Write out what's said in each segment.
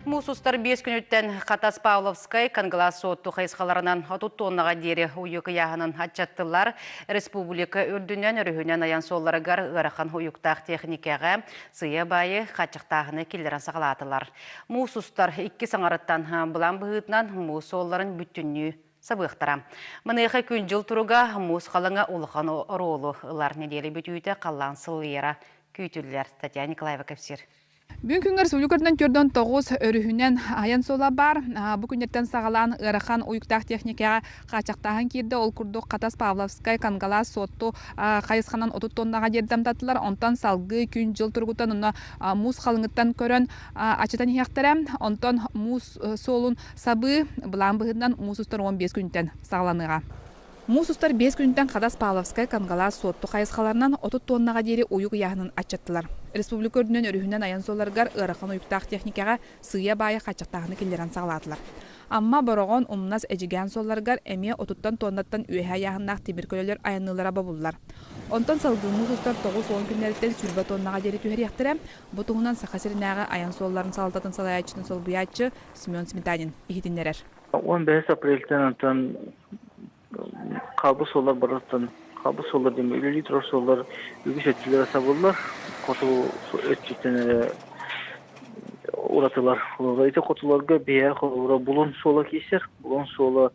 Муус устар биэс күнүттэн Хатас Павловскай Конглас Сотту хайысхаларынан отут тоннаға диэри уйу кыйааһынын аччаттылар. Республика үрдүнэн өрүһүнэн аян суолларыгар ыарахан уйуктаах техникаға сыйа байы хаччыктааһыны киллерен сагалаатылар. Муус устар икки саңарыттан былан быһытынан муус суолларын бүтүннүү сабыахтара. Маныаха күн-дьыл туруга муус халаҥа улахан оруолу ылар нэдиэлэ бүтүүтэ халлаан сылыйара күүтүллэр. Татьяна Николаева кэпсиир. Бүгүн күҥҥэ Республика көрдөн төрдөн тоҕус өрүһүнэн айан суола баар. Бу күннэртэн саҕалаан ыарахан уйуктаах техникаҕа хааччахтааһын киирдэ. Ол курдук Хатас Павловскай, Кангалаас, Суотту хайысханан отут тоннаҕа дьиэрдамтатылар. Онтон салгыы күн-дьыл туругуттан онно муус халыҥыттан көрөн ачытан иһиэхтэрэ. Онтон муус суолун Сабыы былаан быһыытынан муус устар уон биэс күнүттэн саҕаланыаҕа. Муус устар биэс күнүттэн Хадас Павловскай, Камгалаас, Суотту хайысхаларынан отут туоннаҕа диэри уйук ыйааһынын аччаттылар. Республика үрдүнэн өрүһүнэн айан суолларыгар ыарахан уйуктаах техникаҕа сыыйа-баайа хааччахтааһыны киллэрэн саҕалаатылар. Амма, Бороҕон, Умнас, Эдьигээн суолларыгар эмиэ отуттан туоннаттан үөһэ айааһыннаах тимир көлөлөр айанныыллара бобуллар. Онтон салгыы муус устар тоҕус уон күннэриттэн сүүрбэ туоннаҕа диэри түһэриэхтэрэ. Бу туһунан Саха сиринээҕи айан суолларын салалтатын салайааччытын солбуйааччы Семен Сметанин иһитиннэрэр. Он бэһис апрельтан антон хабыс олар барыттан хабыс олар деме үлэлии турар суоллар үгүс өттүлэрэ сабыллар хоту өттүттэн эрэ уратылар холура ити хотуларга биһэ холура булун суола киисер булун суола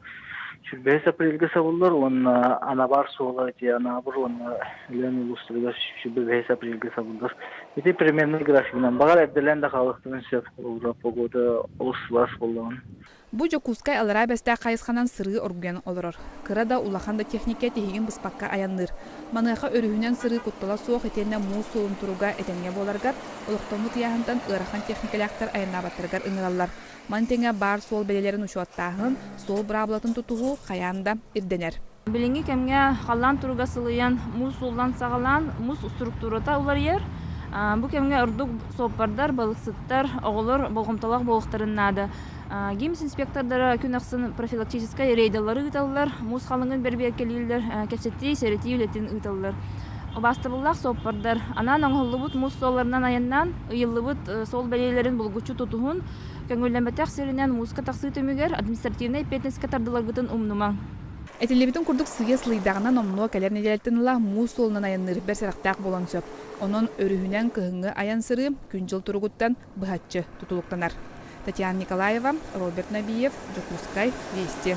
сүрбэһис апрельге сабыллар уонна анабар суола де анабыр уонна лен улустарыгар сүрбэһис апрельге сабыллар Ити переменнай графигынан баҕар эрдэлээн да хаалыахтарын сөп обуруо погода олус сылаас буоллаҕын. Бу Дьокуускай Алараа Бэстээх хайысханан сырыы оргуйан олорор. Кыра да, улахан да техникэ тиһигин быспакка айанныыр. Маныаха өрүһүнэн сырыы куттала суох итиэннэ муус суолун туруга этэҥҥэ буоларыгар, олохтоммут ыйааһынтан ыарахан техникэлээхтэр айаннаабаттарыгар ыҥыраллар, Маны тэҥэ баар суол бэлиэлэрин учуоттааһын, суол быраабылатын тутуһуу хайаан да ирдэнэр. Билиҥҥи кэмҥэ халлаан туруга сылыйан, муус сууллан саҕалаан муус структурата уларыйар. Бу кэмҥэ ордук суоппардар, балыксыттар, оҕолор болҕомтолоох буолуохтарын наада. Гимс-инспектордара күн ахсын профилактическай рейдалары ыыталлар, муус халыҥын бэрбиэркэлииллэр, кэпсэтии, сэрэтии үлэтин ыыталлар. Убаастабыллаах суоппардар анаан оҥоһуллубут муус суолларынан айаннаан, ыйыллыбыт суол бэлиэлэрин булгуччу тутуһун, көҥүллэммэтэх сиринэн мууска тахсыы түмүгэр административнай эппиэтинэскэ тардыларгытын умнумаҥ. Этиллибитин курдук сыыйа сылыйдаҕына номнуо кэлэр нэдиэлэттэн ыла муус суолунан айанныырбар сэрэхтээх буолуон сөп. Онон өрүһүнэн кыһыҥҥы айан сырыы күн-дьыл туругуттан быһаччы тутулуктанар. Татьяна Николаева, Роберт Набиев, Дьокуускай, Вести.